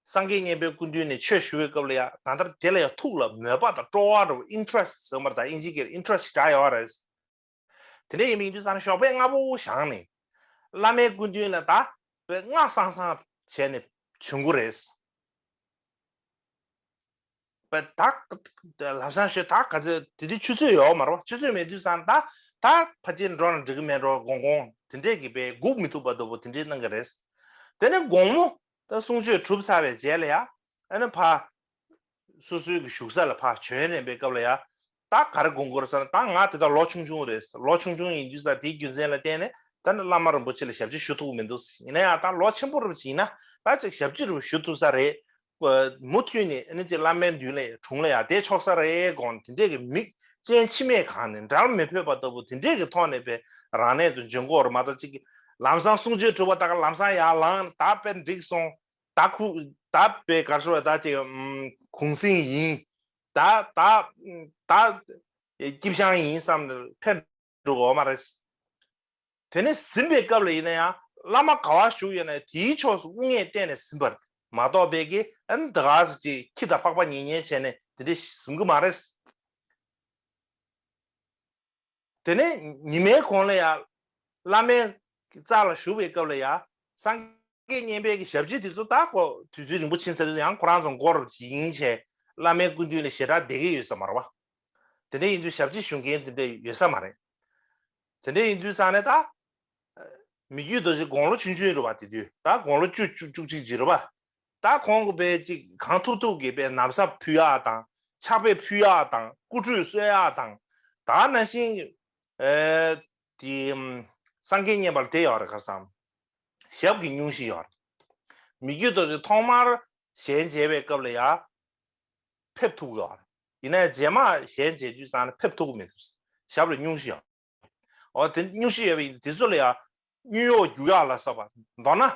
སངས་རྒྱས་བསྙེན་པའི་སྐུ་མདུན་ནས་ཆོས་ཞུ་བའི་སྐབས་ལ་ཡང་ད་ལྟར་དེ་ལ་ཡང་ཐུགས་ལ་མོས་པ་དང་སྤྲོ་བ་འགྲོ་བའི interest ཟེར་བ་མ་གཏོགས་ཨིན་ཇིའི་སྐད་ལ interest ཞེས་གྲགས་ཡོད་རེད། དེ་འདྲ་ཡིན་པའི་ཡིན་དུས་ས་ན་ཞོགས་པའི་རྔ་བོ་བཞག་ནས། བླ་མའི་སྐུ་མདུན་ལ་དག་པའི་སྔགས་གསང་གསང་བྱས་ནས་བྱོན་དགོས་རེད། བདག་ལྷ་བྱང་ཞོལ་ད་ག་ཚོད་དེ་དུས་ཆུ་ཚོད་ཡོད་མ་རེད་བ་ཆུ་ཚོད་མེད་དུས་ས་ན་ད་ད་ཕ་ཅིར་འགྲོ་ན་འགྲིག་གི་མེད་འགྲོ་དགོང་གོང་དེ་འདྲས་ཀྱི་བས་སྒུག་མི་ཐུབ་པ་ལྟ་བུ་དེ་འདྲས་གནང་གི་རེད། དེ་ནས་དགོང་མོ་ལྟར་གསུང་ཆོས་གྲུབ་ཚར་བའི་རྗེས་ལ་ཡང། ཨ་ན་བྷ། སོ་སོའི་གི་བཞུགས་ས་ལ་ཕ་བྱོན་རན་པའི་སྐབས་ལ་ཡང། ད་གར་དགོན་སྐོར་ས་ན་ད་ང་དེ་དག་ལོ་ཆུང་ཆུང་རེད། ལོ་ཆུང་ཆུང་ཡིན་དུས་ས་དེའི་རྒྱུ་མཚན་ལ་བརྟེན་ནས་ད་ནི་བླ་མ་རིན་པོ་ཆེ་ལ་ཞབས་ཕྱི་ཞུ་ཐུག་མི་འདུག་ཡིན་ན་ཡང་ད་ལོ་ཆེན་པོ་རུ་ཡིན་ན་ད་ཅིག་ཞབས་ཕྱི་རུ་ཞུ་ཐུབ་ས་རེད། མུ་མཐུད་ནས་ཨ་ནི་ཅིག་བླ་མའི་མདུན་ལས་དྲུང་ལ་ཡང་བསྡད་ཆོག་ས་རེད་དགོངས་དེ་འདྲས་ཀྱི་མིག་ཅན་འཆི་མེད་གང་ནས་འདྲར་མི་ཕོད་པ་ལྟ་བུ་དེ་འདྲས་ཀྱི་ཐོག་ནས་པའི་རང་གནས་དུ་འབྱོན་སྐོར་མ་གཏོགས་ཅིག་གི་ལམ་སང་གསུང་ཆོས་གྲུབ་པ་དག་ལམ་སང་ཡར་ལངས་ད་དཔེ་འགྲིག་སོང་ད་ཁུག་ད་དཔེ་གར་ཤོར་བ་ད་ཅིག་གུང་སེང་ཡིན་ད་ད་ད་སྐྱིབས་ཤང་ཡིན་བསམ་ནས་ཕེབས་འགྲོ་དགོས་བ་མ་རེད། དེ་ནས་ཟིན་པའི་སྐབས་ལ་ཡིན་ན་ཡང་བླ་མ་ག་བ་བཞུགས་ཡོད་ན་དེའི་ཕྱོགས་སུ་དབུ་སྔས་བསྟན་ནས་ཟིན་པར་མ་གཏོགས་དཔེ་དགེ་ཨན་ད་ག་ཟེར་ཅིག་ཁྱི་ད་ཕག་པ་ཉེ་ཉེ་བྱས་ནས་དེ་འདྲས་ཟིན་གི་མ་རེད། དེ་ནས་ཉི་མའི་གོང་ལ་ཡང། བླ་མའི་རྩ་ལ་བཞུགས་པའི་སྐབས་ལ་ཡང། སངས་རྒྱས་བསྙེན་པའི་གྱི་ཞབས་རྗེས་དེ་ཚོ་དག་གོ། དུས་ཚོད་རིང་པོ་ཕྱིན་ཟེར་དུས་ཡང་ཁོ་རང་ཚོ་མགོར་ཡིན་ཆད། བླ་མའི་སྐུ་མདུན་ལས་ཞེ་དྲག་བསྡད་ཀྱི་ཡོད་ས་མ་རེད་བ། དེ་འདྲ་ཡིན་དུས་ཞབས་རྗེས་ཞུ་མཁན་དེ་འདྲ་ཡོད་ས་མ་རེད། དེ་འདྲ་ཡིན་དུས་ས་ནས་ད། མི་རྒྱུད་རྡོ་རྗེ་དགོང་ལོ་ཆུང་ཆུང་རེད་བ་དེ་དུས་ད་དགོང་ལོ་བཅུ་བཅུ་གཅིག་གཅིག་རེད་བ། ད་གོང་གི་བས་ཅིག་གང་ཐུབ་ཐུབ་ཀྱི་བས་ནམ་ཟབ་ཕུལ་ཡག་དང་ཕྱག་དཔེ་ཕུལ་ཡག་དང་སྐུ་ཁྲུས་གསོལ་ཡག་དང་ད་ན་ཤིང་དེ་སངས་རྒྱས་མཉེས་པར་དེ་ཡག་རེ་ཁ་བསམ་ཞབས་ཀྱི་སྙུང་གཞི་ཡག་རེ་མི་རྒྱུད་དོ་ཅིག་ཐོག་མར་གཞན་མཇལ་བའི་སྐབས་ལ་ཡག་ཕེབས་ཐུག་ཡག་རེ་ཡིན་ན་རྗེས་མ་གཞན་མཇལ་དུས་སང་ལ་ཕེབས་ཐུག་མི་ཐུག་ཞབས་ལ་སྙུང་གཞི་ཡག། འོ་དེ་སྨྱུག་གཞི་ཡོད་པ་ཡིན་དེ་ཚོ་ལ་ཡང་སྨྱུག་ཡོག་རྒྱུག་ཡག་ལ་སོགས་པ་མདོར་ན།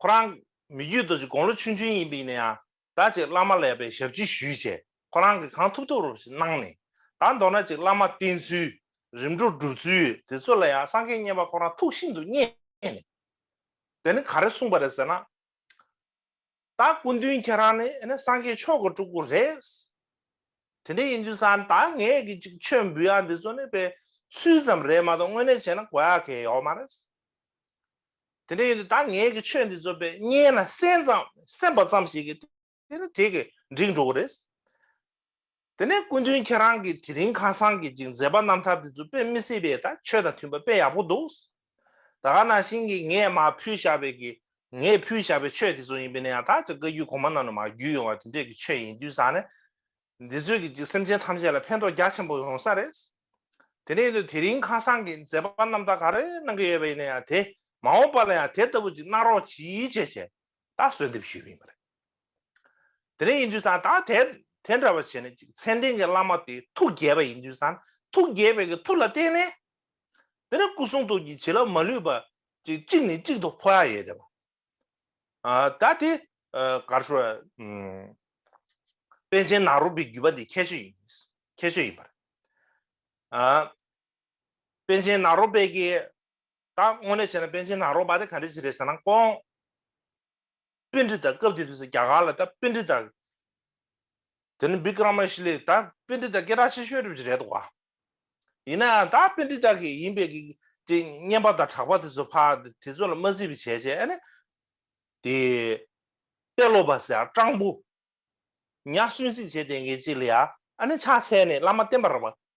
ཁོ་རང་མི་རྒྱུད་རྡོ་རྗེ་དགོང་ལོ་ཆུང་ཆུང་ཡིན་པ་ཡིན་ན་ཡང་ད་ཅིག་བླ་མ་ལ་ཡག་པའི་ཞབས་ཕྱི་ཞུས་བྱས་ཁོ་རང་གིས་གང་ཐུབ་ཐུབ་རུ་ཞིག་གནང་ནས་ད་མདོར་ན་ཅིག་བླ་མ་བསྟེན་ཚུལ་རིམ་གྲོ་སྒྲུབ་ཚུལ་དེ་ཚོ་ལ་ཡང་སངས་རྒྱས་བསྙེན་པ་ཁོ་རང་ཐུགས་ཤིན་ཏུ་མཉེས་ནས་དེ་ནི་ག་རེ་གསུངས་པ་རེད་ཟེར་ན། ད་སྐུ་མདུན་ཁྱེད་རང་ནི་ཨ་ནི་སངས་རྒྱས་མཆོག་གི་སྤྲུལ་སྐུ་རེད། དེ་འདྲ་ཡིན་དུས་ས་ནི་ད་ངས་ཀྱི་ཅིག་མཆོད་འབུལ་ཡག་འདི་ཚོ་ནི་དཔེ་སུའི་ཙམ་རེད་མ་གཏོགས་དངོས་གནས་བྱས་ན་གོ་ཡག་གལ་ཡོག་མ་རེད། དེ་འདྲ་ཡིན་དུས་ད་ངས་ཀྱི་ཆོས་འདི་ཚོ་དཔེ་རྙེད་ན་སེམས་ཙམ་སེམས་པ་ཙམ་ཞིག་གིས་དེ་ནི་དེ་གིས་འགྲིག་འགྲོ་གི་རེད། དེ་ནས་སྐུ་མདུན་ཁྱེད་རང་གིས་དེ་རིང་ཁ་སང་གི་ཅིག་མཛད་པ་རྣམ་ཐར་དེ་ཚོ་དཔེ་མི་སྲིད་པས་ད་ཆོས་དང་མཐུན་པ་དཔེ་ཡག་པོ་འདུག། ད་ག་ན་བཞིན་གྱི་ངས་མ་ཕུལ་བཞག་པའི་གི་ངས་ཕུལ་བཞག་པའི་ཆོས་དེ་ཚོ་ཡིན་པས་ན་ཡང་ད་ཅིག་བཀའ་རྒྱུད་གོང་མ་རྣམས་ལ་མ་བརྒྱུད་ཡོང་བ་དེ་འདྲས་ཀྱི་ཆོས་ཡིན་དུས་ཟག་ན། འདི་ཚོས་གི་ཅིག་སེམས་ཅན་ཐམས་ཅད་ལ་ཕན་ཐོགས་རྒྱ་ཆེན་པོ་ཡོང་ས་རེད། དེ་ནས་དེ་རིང་ཁ་སང་གི་མཛད་པ་རྣམ་ཐར་ག་རེ་གནང་གི་ཡོད་པ་ཡིན་ན་ཡང་དེ་མ་འོངས་པ་ལ་ཡང་དེ་ལྟ་བུ་ཅིག་གནང་རོགས་གྱིས་བྱས་བྱས། ད་གསོལ་འདེབས་ཞུས་མིན་པ་རེད། དེ་རིང་ཡིན་དུས་སང་ད་དེ་དེ་འདྲ་བ་བྱས་ནས་ཅིག་མཚན་ལྡན་གྱི་བླ་མ་དེ་ཐུགས་དགྱེས་པ་ཡིན་དུས་སང་ཐུགས་དགྱེས་པའི་གི་ཐུགས་ལ་བརྟེན་ནས། དེ་རིང་སྐུ་གསུང་ཐུགས་ཀྱི་བྱིན་རླབས་མ་ལུས་པ་ཅིག་གཅིག་ནས་གཅིག་ཏུ་འཕོ་ཡ་ཡོད་དེ། ད་དེ་གར་སོ། པན་ཆེན་ནག་རོག་པའི་བརྒྱུད་པ་འདི་ཁྱད་ཆོས་ཡིན་ཁྱད་ཆོས་ཡིན་པ་རེད། པན་ཆེན་ནག་རོག་པའི་གི་ད་དངོས་གནས་བྱས་ན་པན་ཆེན་ནག་རོག་པ་རེད་ག་རེ་བྱེད་རེད་ཟེར་ན་དཀོན། དཔེ་འདྲི་དང་སྐབས་དེ་དུས་སུ་རྒྱ་གར་ལ་ད་དཔེ་འདྲི་དང། དེ་ནི་བི་ཀི་ར་མ་ཤི་ལེ་ད་དཔེ་འདྲི་དང་སྐད་གྲགས་ཆེ་ཤོས་རེད་བྱེད་རེད་དོ། ཡིན་ན་ཡང་ད་དཔེ་འདྲི་དང་གི་ཡིན་པའི་གི་དེ་སྙན་པ་དང་གྲགས་པ་དེ་ཚོ་ཕ་དེ་ཚོ་ལ་མ་རྩི་བའི་བྱས་བྱས་ཨ་ནི། དེ། དཔེ་ཀློག་པ་ཟེར་ཡང་སྤྲང་པོ། ཉག་གསོན་གཟིགས་བྱས་དེ་གའི་གཅིག་ལ་ཡ་ཨ་ནི་ཕྱག་འཚལ་ནས་བླ་མ་བསྟེན་པར་བ།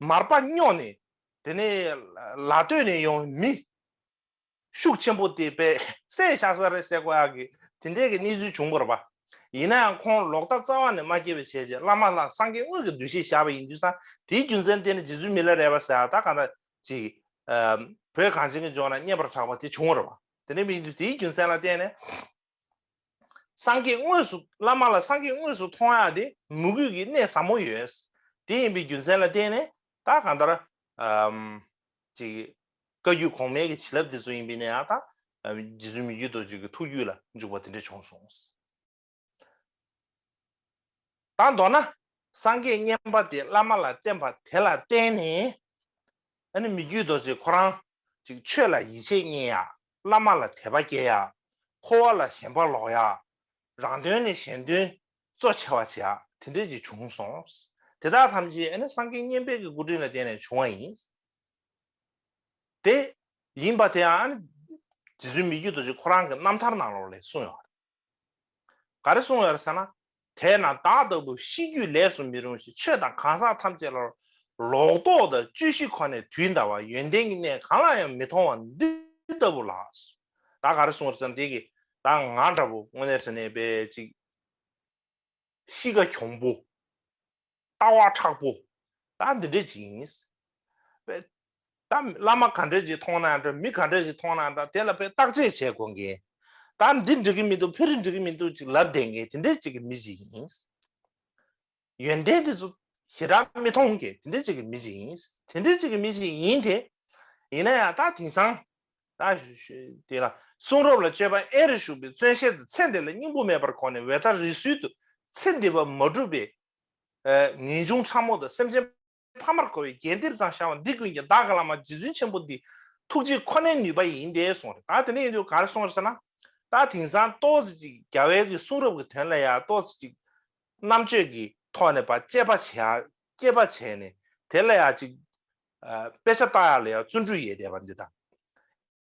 མར་པ་སྙོགས་ནས་དེ་ནས་ལ་སྟོད་ནས་ཡང་མི་ཤུགས་ཆེན་པོ་དེ་པས་སའི་ཤག་སར་རེ་བསད་ཀོ་ཨ་གི་དེ་འདྲའི་གི་གནས་ཚུལ་བྱུང་པར་པ། ཡིན་ན་ཡང་ཁོང་ལོག་ལྟ་རྩ་བ་ནས་མ་སྐྱེས་པའི་བྱས་རྗེས་བླ་མ་ལྷ་སངས་རྒྱས་དངོས་ཀྱི་གདུལ་བྱའི་ཞགས་པ་ཡིན་དུས་སང་དེའི་རྒྱུ་མཚན་དེ་ནི་རྗེ་བཙུན་མི་ལ་རས་པ་ཟེར་བ་དག་གང་དག་ཅིག་བོད་གངས་ཅན་གྱི་ལྗོངས་ན་རྙེད་པར་གྲགས་པ་དེ་བྱུང་བར་པ། དེ་འདྲའི་མིང་དུ་དེའི་རྒྱུ་མཚན་ལ་བརྟེན་ནས། སངས་རྒྱས་དངོས་སུ་བླ་མ་ལ་སངས་རྒྱས་དངོས་སུ་མཐོང་ཡང་དེ་མུ་གུས་ཀྱི་གནས་ཟབ་མོ་ཡོད། དེ་ཡིན་པའི་རྒྱུ་མཚན་ལ་བརྟེན་ནས་ད་གང་ལྟར། བཀའ་རྒྱུད་གོང་མའི་བྱིན་རླབས་དེ་ཚོ་ཡིན་པས་ན་ཡང་དག་རྗེ་བཙུན་མི་རྒྱུད་རྡོ་རྗེ་ཀྱི་ཐུགས་རྒྱུད་ལ་འཇུག་པ་དེ་འདྲ་བྱུང་གསུངས། དང་མདོར་ན་སངས་རྒྱས་བསྙེན་པ་དེ་བླ་མ་ལ་བརྟེན་པ་དེ་ལ་བརྟེན་ནས། མི་རྒྱུད་རྡོ་རྗེ་ཁོ་རང། ཆོས་ལ་ཡིད་ཆེས་བསྙེན་ཡག་བླ་མ་ལ་དད་པ་སྐྱེ་ཡ། འཁོར་བ་ལ་ཞེན་པ་ལོག་ཡ། རང་དོན་ནས་གཞན་དོན་གཙོ་ཆེ་བ་བྱེད་ཡ་དེ་འདྲས་ཀྱི་བྱུང་སོང། དེ་དག་ཐམས་ཅད་ཨེ་ནི་སངས་རྒྱས་བསྙེན་པའི་གི་སྐུ་དྲིན་ལ་བརྟེན་ནས་བྱུང་བ་ཡིན། དེ་ཡིན་པ་དེའང་ནི་རྗེ་བཙུན་མི་རྒྱུད་རྡོ་རྗེ་ཁོ་རང་གི་རྣམ་ཐར་ནང་ལོགས་ལས་གསུངས་ཡོད། ག་རེ་གསུངས་ཡོད་རེད་ཟེར་ན། དེས་ན་བདག་ལྟ་བུ་ཤི་རྒྱུས་ལས་སུ་མི་རུང་ཞིང་ཆོས་དང་གང་ཟག་ཐམས་ཅད་ལ་ལོག་རྟོག་དང་བཅུད་ཤི་ཁོ་ནས་དུས་འདའ་བ་ཡོན་ཏན་གྱི་གནས་གང་ལ་ཡང་མི་མཐོང་བ་འདི་ལྟ་བུ་ལགས། བདག་ག་རེ་གསུངས་རེད་ཟེར་ན་དེ་གིས་བདག་ང་འདྲ་བོ་དངོས་གནས་ཟེར་ནས་བས་ཅིག། གཤིས་ཀ་གྱོང་པོ། ལྟ་བ་ཕྲག་པོ་ད་འདི་འདྲས་ཅིག་ཡིན། དཔེ། ད་བླ་མ་ག་འདྲས་ཅིག་མཐོང་ན་འདྲ་མི་ག་འདྲས་ཅིག་མཐོང་ན་འདྲ་དེ་ལ་དཔེ་བརྟག་དཔྱད་བྱེད་དགོས་མཁན། ད་འདི་འགྲིག་གི་མི་འདུག་ཕེ་རི་འགྲིག་གི་མི་འདུག་ཅིག་ལར་བསྡད་མཁན་དེ་འདྲས་ཅིག་གི་མི་ཅིག་ཡིན། ཡོན་ཏན་དེ་ཚོ་ཞེ་དྲག་མི་མཐོང་མཁན་དེ་འདྲས་ཅིག་གི་མི་ཅིག་ཡིན། དེ་འདྲས་ཅིག་གི་མི་ཅིག་ཡིན་དེ། ཡིན་ན་ཡང་ད་དེང་སང། ད་དེ་ལ་གསུང་རབ་ལ་དཔྱོད་པ་ཨེ་རེ་ཞུགས་པའི་བརྩོན་ཤེས་དང་ཚེ་འདི་ལ་སྙིང་པོ་མེད་པར་གོ་ནས་འོད་ལྟར་རི་སུལ་དུ་ཚེ་འདི་བ་མ་གྲུབ་པའི་ངེས་འབྱུང་ཕྲ་མོ་དང་སེམས་ཅན་ཕ་མར་གོ་བའི་རྒྱས་འདེབས་ཙམ་བྱ་བ་འདི་ཀུན་གྱི་བདག་བླ་མ་རྗེ་བཙུན་ཆེན་པོ་འདི་ཐུགས་རྗེ་ཁོ་ནའི་ནུས་པ་ཡིན་ཏེ་གསུངས་རེད་ད་དེ་ནས་ཡིན་དུས་ག་རེ་གསུངས་ཟེར་ན། ད་དེང་སང་ཏོག་ཙེ་གཅིག་རྒྱ་བལ་གྱི་གསུང་རབ་ཀྱི་དོན་ལ་ཡང་ཏོག་ཙེ་གཅིག་རྣམ་དཔྱོད་ཀྱི་ཐོག་ནས་བ་ཅད་པ་བྱས་ཡ་སྐྱེད་པ་བྱས་ནས་དེ་ལ་ཡང་གཅིག་དཔེ་ཆ་བཏགས་ཡ་ལ་ཡང་བརྩོན་འགྲུས་ཡས་བསྡད་པ་འདི་དང།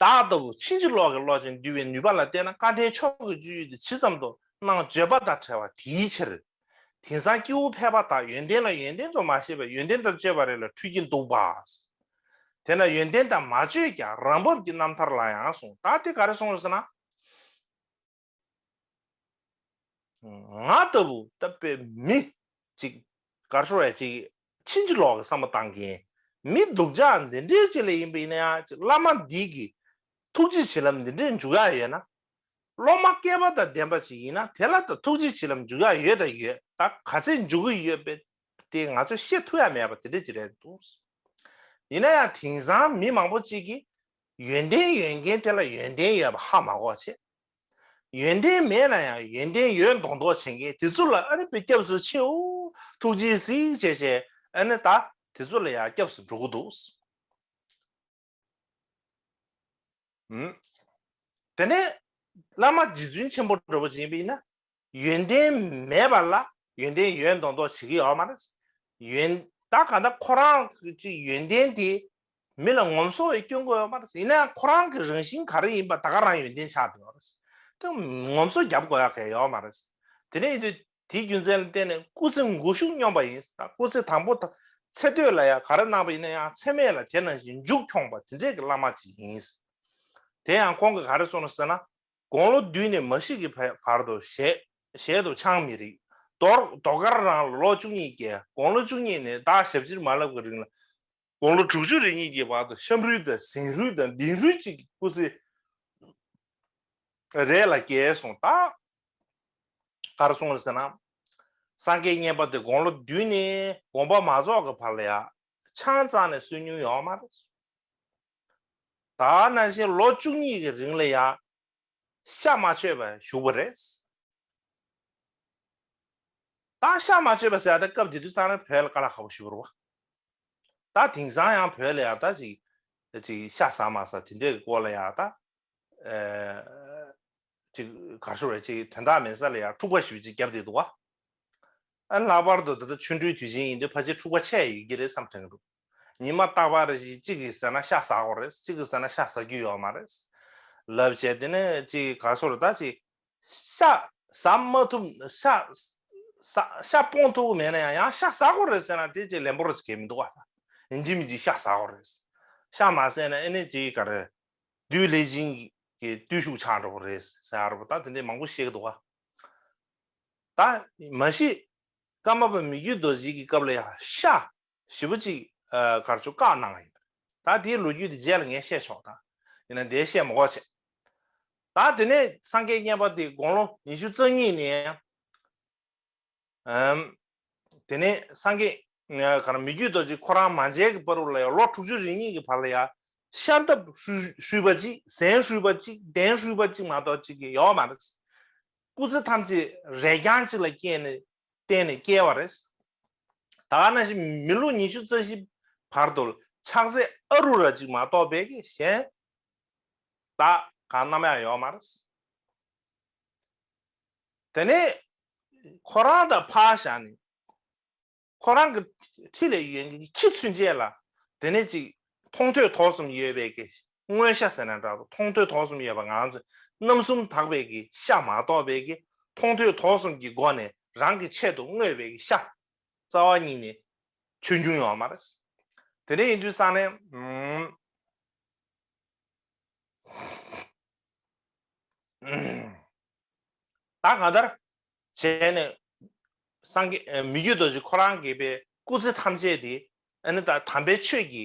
བདག་ལྟ་བུ་ཕྱིན་ཅི་ལོག་གི་བློ་ཅན་འདུལ་བའི་ནུས་པ་ལ་བལྟས་ན་བཀའ་ཁྲིའི་ཕྱོགས་ཀྱི་སྤྱོད་ཡུལ་དེ་ཇི་ཙམ་དུ་སྣང་བརྗོད་པ་དང་བྲལ་བ་དེའི་ཕྱིར། དེང་སང་སྐྱེ་བོ་ཕལ་པ་དག་ཡོན་ཏན་ལ་ཡོན་ཏན་དུ་མ་ཤེས་པས་ཡོན་ཏན་དང་སྤྱོད་པ་རེ་ལ་འཁྲུལ་གྱིན་འདུག་པ། དེས་ན་ཡོན་ཏན་དང་མ་བཅོས་ཀྱང་རང་བབས་ཀྱི་རྣམ་ཐར་ལ་ཡང་སོང་དག་དེ་ག་རེ་སོང་ཟེར་ན། ང་ལྟ་བུ་ལྟ་བའི་མི་ཅིག་གར་ཤོར་བས་ཅི་ཕྱིན་ཅི་ལོག་གི་བསམ་པ་བཏང་གིན་མི་འདུག་ཅག་འདི་འདྲའི་ཅི་ལས་ཡིན་པ་ཡིན་ན་ཡ་ཅིག་བླ་མ་འདི་གི་ཐུགས་རྗེ་བྱིན་རླབས་འདི་འདྲའི་འཇུག་ཡ་ཡོད་ན། སློབ་མ་སྐལ་པ་དང་ལྡན་པ་ཞིག་ཡིན་ན་དེ་ལ་ད་ཐུགས་རྗེ་བྱིན་རླབས་འཇུག་ཡ་ཡོད་དང་ཡོད་ད་ག་ཚད་འཇུག་གི་ཡོད་པའི་དེ་ང་ཚོས་ཤེས་ཐུབ་ཡ་མེད་པ་དེ་འདྲའི་ཅི་རེད་འདུག་ཡིན་ན་ཡང་དེང་སང་མི་མང་པོ་ཅིག་གིས་ཡོན་ཏན་ཡོད་མཁན་དེ་ལ་ཡོན་ཏན་ཡོད་པ་ཧ་མ་གོ་བྱེད། ཡོན་ཏན་མེད་ན་ཡང་ཡོན་ཏན་ཡོད་མདོག་མདོག་བྱེད་མཁན་དེ་ཚོ་ལ་ཨ་རི་བས་སྐྱབས་སུ་མཆིའོ། ཐུགས་རྗེའི་གཟིགས་བྱས་བྱས་ཨ་ནི་ད་དེ་ཚོ་ལ་ཡང་སྐྱབས་སུ་འགྲོ་གི་འདུག། དེ་ནས་བླ་མ་རྗེ་བཙུན་ཆེན་པོ་གྲོལ་བ་ཅན་པས་ཡིན་ན། ཡོན་ཏན་མེད་པ་ལ་ཡོན་ཏན་ཡོད་མདོག་མདོག་བྱེད་ཀྱི་ཡོད་མ་རེད། ཡོན་ད་ག་ད་ཁོ་རང་གི་ཡོན་ཏན་དེ་མི་ལ་ངོམ་སོ་བའི་སྐྱོན་གོ་ཡོད་མ་རེད། ཡིན་ན་ཁོ་རང་གི་རང་བཞིན་ག་རེ་ཡིན་པ་ད་ག་རང་ཡོན་ཏན་ཆགས་འདུག་ཡོད་རེད། དེ་ངོམ་སོ་རྒྱབ་དགོས་ཡ་གལ་ཡོད་མ་རེད། དེ་ནས་དེ་དེའི་རྒྱུ་མཚན་ལ་བརྟེན་ནས་སྐུ་ཚེ་འགུག་ཤུགས་སྙོམས་པ་ཡིན་ད་སྐུ་ཚེ་དང་པོ་ད་ཚེ་སྟོད་ལ་ཡང་ག་རེ་གནང་བ་ཡིན་ན་ཡང་ཚེ་མེད་ལ་དེ་ནང་བཞིན་མཇུག་འཁྱོངས་པ་དེ་འདྲས་ཀྱི་བླ་མ་དེ་ཡིན། དེ་ཡང་ཁོང་གིས་ག་རེ་གསུངས་ན་ཟེར་ན་དགུང་ལོ་བདུན་ནས་མ་བཞི་གི་བར་དུ་བཞེད། ཞལ་དུ་ཆང་མི་རིག། མདོར་མདོ་སྐར་རང་ལོ་ལོ་བཅུ་གཉིས་བརྒྱད། དགུང་ལོ་བཅུ་གཉིས་ནས་བདག་ཞབས་ཕྱིར་མ་ལབ་ཀྱི་རིང་ལ། དགུང་ལོ་དྲུག་ཅུ་རེ་གཉིས་ཀྱི་བར་དུ་ཤམ་རུས་དང་ཟན་རུས་དང་ལྡིང་རུས་གཅིག་གི་སྐུ་ཚེ་རེ་ལ་བསྐྱལ་སོང་སྟབས། གར་སོང་བ་ཟེར་ན། སངས་རྒྱས་བསྙེན་པ་དེ་དགུང་ལོ་བདུན་ནས་དགོངས་པ་མ་རྫོགས་ཀྱི་བར་ལ་ཡང་ཆང་གཙང་ནས་བསུ་མྱོང་ཡོད་མ་རེད། ད་ནང་བཞིན་ལོ་བཅུ་གཉིས་ཀྱི་རིང་ལ་ཡང་ཤ་མ་ཆོད་པར་བཞུགས་པ་རེད། ད་ཤ་མ་ཆོད་པ་ཟེར་ཏེ་སྐབས་དེ་དུས་སང་ར་བོད་ལ་ག་ལ་ཧ་བོ་ཞུ་རུ་བ། ད་དེང་སང་ཡང་བོད་ལ་ཡང་ད་ཅིག་ཅིག་ཤ་ཟ་མ་ཟ་དེ་འདྲའི་གི་སྐོར་ལ་ཡང་ད་ཅིག་ག་ཧྲུལ་བས་ཅིག་དོན་དག་མེད་ས་ལ་ཡང་འཁྲུག་པ་ཞིག་ཅིག་བརྒྱབ་བསྡད་འདུག་བ། ཨ་ལྷག་པར་དུ་ད་ཆུང་དུས་དུས་ཆེན་ཡིན་དུས་ཕ་ཆེ་འཁྲུག་པ་ཆེ་ཡོད་ཀྱི་རེད་བསམ་དྲན་གི་འདུག། ཉི་མ་རྟག་པར་རེ་ཞིག་གཅིག་གིས་ཟེར་ན་ཤ་ཟ་གོ་རེད་གཅིག་གིས་ཟེར་ན་ཤ་ཟ་རྒྱུ་ཡོད་མ་རེད། ལབ་བྱས་དེ་ནས་གཅིག་གིས་ག་སོར་ད་ཅིག། ཤ་ཟ་མ་ཐུབ། ཤ་ཟ་ཤ་སྤོང་ཐུབ་ཀི་མེད་ན་ཡང་ཡང་ཤ་ཟ་གོ་རེད་ཟེར་ན་དེ་ཅིག་ལན་པོ་རེ་ཟེར་གི་མི་འདུག་བ་ས། འཇིགས་མི་འཇིགས་ཤ་ཟ་གོ་རེད། ཤ་མ་ཟས་ན་ཨེ་ནས་ཅིག་ག་རེ། དུས་ལེགས་བྱིན་གྱིས་བརྟུལ་ཞུགས་ཆགས་འགྲོ་གི་རེད་ཟེར་ཨ་རོ་པོ་ད་དེ་འདྲས་མང་པོ་བཤད་གི་འདུག་བ། ད་མ་གཞི། ཀརྨ་པ་མི་རྒྱུད་རྡོ་རྗེ་གི་སྐབས་ལ་ཡང་ཤ་བཞི་པོ་གཅིག་གར་ཆུ་བཀག་གནང་བ་ཡིན། ད་དེའི་ལོ་རྒྱུས་དེ་རྗེས་ལ་ངས་བཤད་ཆོག་ད་ཡིན་ན་དེའི་བཤད་མོ་གོ་བྱེད། ད་དེ་ནས་སངས་རྒྱས་བསྙེན་པ་དེ་དགུང་ལོ་ཉི་ཤུ་རྩ་གཉིས་ནས་ཨམ། དེ་ནས་སངས་རྒྱས་ག་རང་མི་རྒྱུད་རྡོ་རྗེ་ཁོ་རང་མ་མཇལ་གྱི་བར་ལ་ཡང་ལོ་དྲུག་ཅུ་རེ་གཉིས་ཀྱི་བར་ལ་ཡང་ཤར་འདབ་ཧྲུལ་བ་གཅིག་ཟན་ཧྲུལ་བ་གཅིག་གདན་ཧྲུལ་བ་གཅིག་མ་གཏོགས་གཅིག་གི་ཡོད་མ་རེད། སྐུ་ཚེ་ཐམས་ཅད་རས་རྐྱང་གཅིག་ལ་བསྐྱལ་ནས་བརྟེན་ནས་བསྐྱལ་བ་རེད། ད་ནང་བཞིན་མི་ལོ་ཉི་ཤུ་རྩ་བཞི་བར་དུ་ཆགས་ཚེ་ཨ་རུ་ར་ཅིག་མ་གཏོགས་པའི་གཞན་དག་གང་ནམ་ཡང་ཡོད་མ་རེད། དེ་ནས་ཁོ་རང་དང་ཕ་ཞང་ནི་ཁོ་རང་གི་ཁྲི་ལས་ཡོན་གྱི་ཁྱི་ཚུན་ཆད་ལ་དེ་ནས་ཅིག་མཐོང་ཐོས་དོགས་གསུམ་ཡོད་པའི་མངོན་ཤ་ཟེར་ན་འདྲ་དང་མཐོང་ཐོས་དོགས་གསུམ་ཡོད་པ་ང་ཚོས་རྣམ་གསུམ་དག་པའི་གི་ཤ་མ་གཏོགས་པའི་གི་མཐོང་ཐོས་དོགས་གསུམ་གྱི་སྒོ་ནས་རང་གི་ཆེད་དུ་བསྔོས་པའི་གི་ཤ་རྩ་བ་ཉིད་ནས་ཆོས་འབྱུང་ཡོང་བ་མ་རེད། དེ་འདྲ་ཡིན་དུས་ས་ནས། ད་གང་ལྟར་བྱས་ནས་སངས་རྒྱས་མི་རྒྱུད་རྡོ་རྗེ་ཁོ་རང་དགེ་བའི་སྐུ་ཚེ་ཐམས་ཅད་དེ་ད་དམ་པའི་ཆོས་ཀྱི་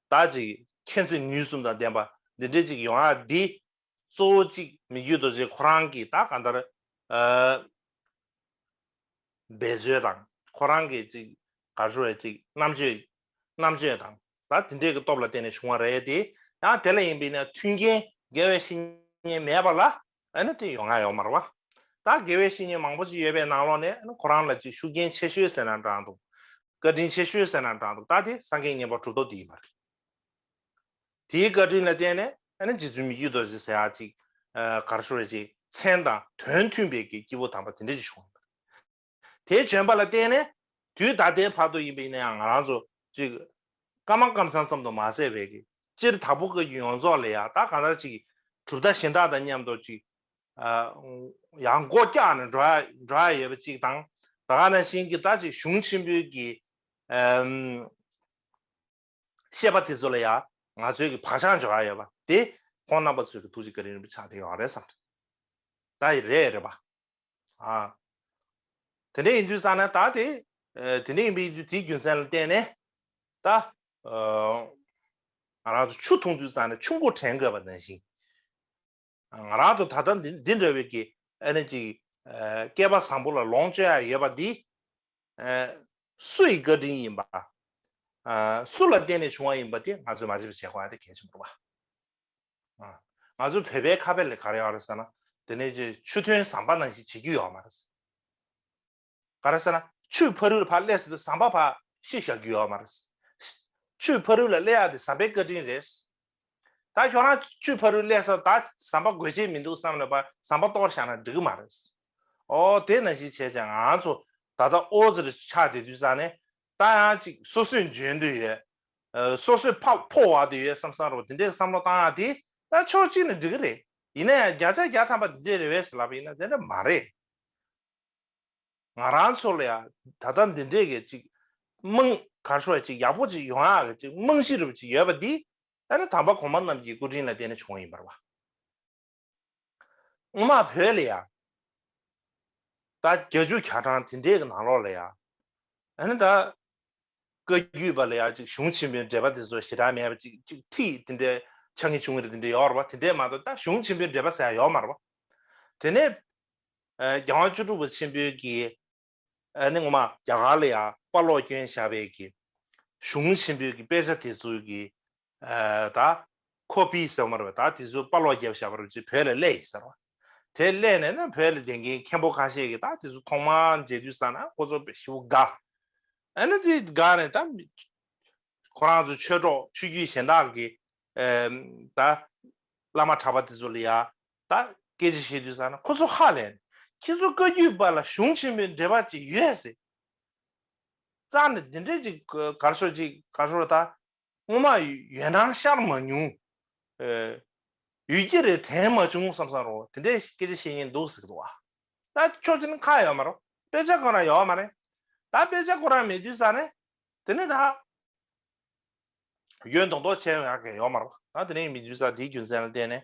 དག་ཅིག་མཁྱེན་བརྩེ་ནུས་གསུམ་དང་ལྡན་པ་འདི་འདྲའི་ཅིག་ཡོང་ཨ་འདི། གཙོ་བོ་གཅིག་མི་རྒྱུད་རྡོ་རྗེ་ཁོ་རང་གིས་ད་གང་ལྟར། འབད་རྩོལ་དང་ཁོ་རང་གི་ཅིག་ག་རེ་བའི་ཅིག་རྣམ་དཔྱོད། རྣམ་དཔྱོད་དང་ད་དེ་འདྲའི་གི་སྟོབས་ལ་བརྟེན་ནས་བྱུང་བ་རེད་དེ། ཡང་དེ་ལ་ཡིན་པས་ན་མཐུན་རྐྱེན་འགལ་བའི་བཤེས་གཉེན་མེད་པ་ལ་ཨ་ནི་དེ་ཡོང་ང་ཡོང་མར་བ། ད་དགེ་བའི་བཤེས་གཉེན་མང་པོ་ཅིག་ཡོད་པའི་ནང་ལོགས་ནས་ཨ་ནི་ཁོ་རང་ལ་ཅིག་ཤུགས་རྐྱེན་ཆེ་ཤོས་ཟེར་ན་འདྲ་འདུག་བཀའ་དྲིན་ཆེ་ཤོས་ཟེར་ན་འདྲ་འདུག་ད་དེ་སངས་རྒྱས་བསྙེན་པ་གྲུབ་ཐོབ་དེ་ཡིན་པ་རེད། དེའི་བཀའ་དྲིན་ལ་བརྟེན་ནས་ཨ་ནི་རྗེ་བཙུན་མི་རྒྱུད་རྡོ་རྗེ་ཟེར་ཡག་ཅིག་གར་ཤོར་བས་ཅིག་མཚན་དང་དོན་མཐུན་པའི་གི་སྐྱེས་བུ་དམ་པ་དེ་འདྲ་ཅིག་བྱུང་ཡོད་པ་རེད། དེའི་བྱོན་པ་ལ་བརྟེན་ནས་དུས་ད་ལྟའི་བར་དུ་ཡིན་པའི་ཡིན་ནའང་ང་རང་ཚོ་ཅིག། སྐར་མ་སྐར་མཚམས་ཙམ་དུ་མ་ཟད་བས་ཀྱི་སྤྱིར་དྭགས་པོ་བཀའ་བརྒྱུད་ཡོངས་རྫོགས་ལས་ཡང་དག་གང་ལྟར་ཅིག། གྲུབ་མཐའ་གཞན་དག་དང་མཉམ་དུ་ཅིག། ཡང་སྒོ་བཀྱག་ནས་འགྲོ་ཡ་ཡོད་པ་ཅིག་དང། ད་ག་ན་གཞན་གྱི་ལྟར་ཅིག་གཞུང་ཆེན་པོའི་གྱི། བཤད་པ་དེ་ཚོ་ལ་ཡང་ང་ཚོའི་གི་བག་ཆགས་འཇོག་ཡ་ཡོད་པ་དེ་ཁོང་རྣམ་པ་ཚོའི་གི་ཐུགས་རྗེ་ག་རིང་རིང་པོ་ཆགས་དེ་ཡོང་རེད་བསམ། ད་ཡི་རེད་རེད་པ། ཨ། དེ་འདྲས་ཡིན་དུས་བསམ་ན་ད་དེ་དེ་འདྲས་ཡིན་པའི་དུས་དེའི་རྒྱུ་མཚན་ལ་བརྟེན་ནས་ད། ང་རང་ཚོ་ཆུ་འཐུང་དུས་བསམ་ན་ཆུ་མགོ་དྲན་དགོས་པ་ནང་བཞིན། ང་རང་དང་ད་ལྟ་འདི་འདྲ་བའི་ཀྱི་ཨ་ནེ་ཅིག་སྐལ་པ་བཟང་པོ་ལ་ལོངས་སྤྱོད་ཡ་ཡོད་པ་འདི། སུ་ཡི་བཀའ་དྲིན་ཡིན་པ། སུ་ལ་བརྟེན་ནས་བྱུང་བ་ཡིན་པ་དེ་ང་ཚོས་མ་ཤེས་པ་བྱེད་དགོས་ཨ་དེ་གལ་ཆེན་པོ་རེད་པ། ང་ཚོའི་བོད་པའི་ཁ་དཔེ་ལས་ག་རེ་ཡོད་རེད་ཟེར་ན། དེ་ནས་ཆུ་ཐོན་ཟམ་པ་ནང་བཞིན་བྱེད་རྒྱུ་ཡོད་མ་རེད། ག་རེ་ཟེར་ན་ཆུའི་ཕ་རུལ་ལ་ཕར་སླེབས་ཚུལ་དུ་ཟམ་པ་ཕར་ཤི་བཞག་རྒྱུ་ཡོད་མ་རེད། ཆུའི་ཕ་རུལ་ལ་སླེབས་ཡག་དེ་ཟམ་པའི་བཀའ་དྲིན་རེད། ད་ཁྱོད་རང་ཆུའི་ཕ་རུལ་སླེབས་ས་ད་ཟམ་པ་དགོས་ཆེད་མི་འདུག་བསམ་ནས་པར་ཟམ་པ་གཏོར་བཞག་ན་འགྲིག་གི་མ་རེད། ཨོ་དེས་ན་གཞིས་བྱེས་ཀྱི་ང་ཚོ་ད་ལྟ་ཨོ་རྩི་རུ་ཆགས་བསྡད་དུས་ས་ནས་ད་ཡང་ཅིག་སོ་སོས་འཇོན་དུ་ཡོད། སོ་སོས་ཕ་ཕོ་བར་དུ་ཡོད་བསམ་ས་རོགས་དེ་འདྲའི་བསམ་བློ་བཏང་ཡག་དེ་ད་ཕྱོགས་གཅིག་ནས་འགྲིག་གི་རེད། ཡིན་ན་ཡང་བརྒྱ་ཆ་བརྒྱ་ཐམ་པ་དེ་འདྲའི་རེ་བས་སུ་ལབ་པ་ཡིན་ན་དེ་འདྲ་མ་རེད། ང་རང་ཚོ་ལ་ཡང་ད་ལྟ་འདི་འདྲས་ཀྱི་ཅིག་རྨང་གར་ཤོར་བ་ཅིག་ཡག་པོ་ཅིག་ཡོང་ཡག་གི་ཅིག་རྨང་གཞི་རིལ་བ་ཅིག་ཡོད་པ་འདི་ཨ་རི་དམ་པ་གོང་མ་རྣམས་ཀྱི་སྐུ་དྲིན་ལ་བརྟེན་ནས་བྱུང་བ་ཡིན་པར་བ། སྔོན་མ་བོད་ལ་ཡང་ད་རྒྱ་ཇུ་གྱ་གྲངས་དེ་འདྲས་ཀྱི་ནང་ལོགས་ལ་ཡང་ཨ་རི་ད་བཀའ་བརྒྱུད་པ་ལ་ཡང་ཅིག་གཞུང་ཆེན་པོའི་འགྲེལ་པ་དེ་ཚོ་ཞེ་དྲག་མེད་པ་ཅིག་ཅིག་ཚིག་དེ་འདྲས་ཆ་ངེས་བྱུང་གི་རེད་དེ་འདྲས་ཡོད་བར་བ་དེ་འདྲས་མ་གཏོགས་ད་གཞུང་ཆེན་པོའི་འགྲེལ་པ་ཟེར་ཡག་ཡོད་མར་བ། དེ་ནས་རྒྱལ་དབང་བཅུ་དྲུག་པ་ཆེན་པོའི་གྱི། ནི་ངོ་མ། རྒྱ་གར་ལ་ཡང་དཔའ་ལོག་སྐྱོན་བཞག་པའི་གྱི། གཞུང་ཆེན་པོའི་གྱི་དཔེ་ཆ་དེ་ཚོའི་གྱི། ད། Copy ཟེར་བ་མ་རེད་པ་ད་དེ་ཚོའི་དཔའ་ལོག་རྒྱབ་བཞག་པ་རེད་ཅེས་བོད་ལ་གླས་ཡིན་ཟེར་བ། དེ་གླས་ནས་ན་བོད་ལ་བསྡད་མཁན་མཁན་པོ་ཁ་ཤས་གྱི་ད་དེ་ཚོ་ཐོག་མར་མཇལ་དུས་ས་ན་ཁོ་ཚོ་བེ་ཤི་བོ་དགའ། ཨ་ན་དེ་དགའ་ནས་ད། ཁོ་རང་ཚོ་ཆོས་གྲོགས་ཆོས་བརྒྱུད་གཞན་དག་གི། ད། བླ་མ་གྲྭ་པ་དེ་ཚོ་ལ་ཡང། ད་སྐད་ཅིག་བཤད་དུས་བསམ་ན་ཁོ་ཚོ་ཧ་ལས་ནས་ཁྱེད་ཚོ་བཀའ་རྒྱུད་པ་ལ་གཞུང་ཆེན་པོའི་འབྲེལ་བ་ཅིག་ཡོད་ཟེར། རྩ་ནས་འདི་འདྲའི་ཅིག་གར་སོ་ཅིག་གར་སོ་ད་སྔོན་མ་ཡོད་སྣང་ཤར་མ་མྱོང། ཡུལ་སྐྱེ་རེ་དྲན་མ་བྱུང་བསམ་བསམ་རོགས་དེ་འདྲའི་སྐད་ཆ་བཤད་ངེས་འདུག་ཟེར་གི་འདུག་ཨ། ད་ཆོག་མཆན་ཁ་ཡོད་མ་རོགས་དཔེ་ཆ་ཁོ་རང་ཡོད་མ་རེད། ད་དཔེ་ཆ་ཁོ་རང་མེད་དུས་བསམ་ནས་དེ་ནས་ད། ཡོད་མདོག་མདོག་བྱས་ཡོང་ཡག་གི་ཡོད་མ་རོགས་ད་དེ་ནས་མེད་དུས་བསམ་དེའི་རྒྱུ་མཚན་ལ་བརྟེན་ནས་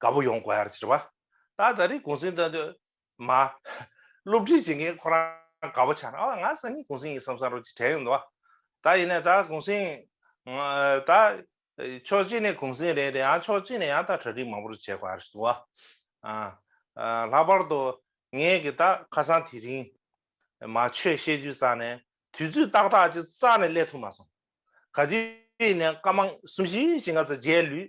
དགའ་པོ་ཡོང་དགོས་ཡར་ཕྱིར་བ། ད་ད་རེས་གུང་སེང་ད་མ། སློབ་ཁྲིད་བྱེད་མཁན་ཁོ་རང་དགའ་པོ་ཆགས་ཨ་ང་སང་ཉིན་གུང་སེང་ཡིན་བསམ་བསམ་རོ་གཅིག་དྲན་ཡོང་དུ་བ། ད་ཡིན་ན་ད་གུང་སེང། ད། ཕྱོགས་གཅིག་ནས་གུང་སེང་རེད་དེ་ཡང་ཕྱོགས་གཅིག་ནས་ཡང་ད་གྲ་སྒྲིག་མང་པོ་རུ་བྱེད་དགོས་ཡར་ཞུ་དུ་བ། ལྷག་པར་དུ། ངས་ཀྱི་ད་ཁ་སང་དེ་རིང། མ་ཆོས་བཤད་རྒྱུ་བསགས་ནས་དུས་ཚོད་ཏག་ཏག་ཅིག་བསགས་ནས་སླེབས་ཐུབ་མ་སོང། ག་དུས་ཡིན་ནས་སྐར་མ་གསུམ་བཞི་བཞི་ང་ཚོ་རྗེས་ལུས།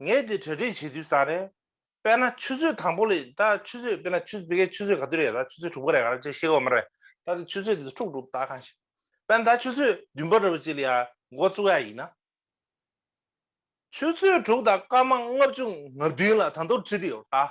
ངས་དེ་གྲ་སྒྲིག་བྱེད་དུས་བཟང་རེད། དཔེར་ན་ཆུ་ཚོད་དང་པོ་ལས་ད་ཆུ་ཚོད་དཔེར་ན་ཆུ་དཔེ་ཁའི་ཆུ་ཚོད་ག་དུས་རེད་ད་ཆུ་ཚོད་དྲུག་པ་རེད་ག་རེད་ཅེས་ཤེས་དགོས་མ་རེད་ད་དེ་ཆུ་ཚོད་དེ་ཚོ་དཀྲུགས་འདུག་ད་གང་ཤེས། དཔེར་ན་ད་ཆུ་ཚོད་བདུན་པ་རེད་ཅེས་ལ་ཡང་མགོ་བཙུགས་ཡ་ཡིན་ན། ཆུ་ཚོད་དྲུག་དང་སྐར་མ་ལྔ་བཅུ་ང་བདུན་ལ་ད་མདོར་བྲིས་དུས་ཡོད་ད།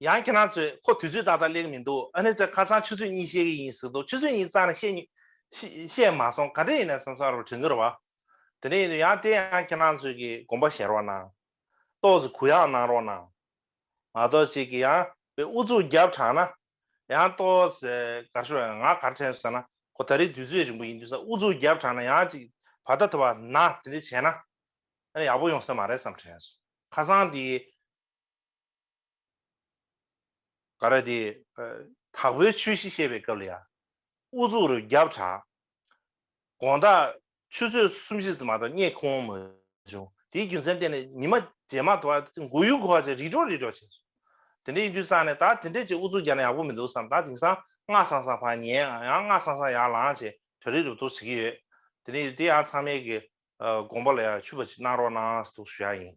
ཡང་ཁྱེད་རང་ཚོས་ཁོ་དུས་ཚོད་ཏག་ཏག་གླེང་མི་འདུག་ཨ་ནེ་ཚོས་ཁ་སང་ཆུ་ཚོད་གཉིས་བཤད་གི་ཡིན་ཟེར་འདུག་ཆུ་ཚོད་གཉིས་ཙང་ནས་བཤད་མ་སོང་ག་འདྲ་ཡིན་ནས་སོང་ས་རུ་དྲན་གི་རེད་བ། དེ་ནས་ཡིན་དུས་ཡང་དེ་ཡང་ཁྱེད་རང་ཚོས་ཀྱི་དགོངས་པ་ཞལ་རོགས་གནང། ཏོག་ཙི་གུ་ཡངས་གནང་རོགས་གནང། ང་ཏོག་ཅེ་གི་ཡང་བའི་ཨུ་ཚུགས་རྒྱབ་དྲངས་ན། ཡང་ཏོག་ཙེ་གར་ཤོར་ཡང་ང་གར་དྲན་ཟེར་ན་ཁོ་ད་རེས་དུས་ཚོད་རིང་པོ་ཡིན་དུས་ས་ཨུ་ཚུགས་རྒྱབ་དྲངས་ན་ཡང་ཅིག་བར་ད་ཐུ་བ་ན་དེ་འདྲས་བྱས་ན། ཨ་ནེ་ཡག་པོ་ཡོང་ས་མ་རེད་བསམ་དྲན་སོང་ཁ་སང་དེ། ཀ་ར་དེ། དྭགས་པོའི་ཆོས་གཞི་བཤད་པའི་སྐབས་ལ་ཡང། དབུ་གཙུག་རུ་རྒྱབ་དྲངས། དགོངས་དག་ཆུ་ཚོད་གསུམ་བཞི་ཙམ་མ་གཏོགས་རྙེད་ཁོམ་མ་བྱུང། དེའི་རྒྱུ་མཚན་བསྟན་ནས་ཉི་མ་རྗེས་མ་དུ་བ་མགོ་ཡུ་གོ་བ་བྱས་རི་གྲོག་རི་གྲོག་བྱས་སོང། དེ་འདྲའི་དུས་བསགས་ནས་ད་དེ་འདྲའི་ཅིག་དབུ་གཙུག་རྒྱབ་ན་ཡག་པོ་མི་འདུག་བསམ་ད་དེང་སང་སྔགས་བསང་སང་བར་ཉལ་ཡང་སྔགས་བསང་སང་ཡར་ལངས་བྱས་གྲ་རིག་རུབ་རྡོག་བྱེད་ཀྱི་ཡོད། དེ་ནས་དེ་ཡང་ཚང་མའི་དགོངས་པ་ལ་ཡང་ཆུད་པ་ཅིག་གནང་རོགས་གནང་ཟློག་ཞུ་ཡག་ཡིན།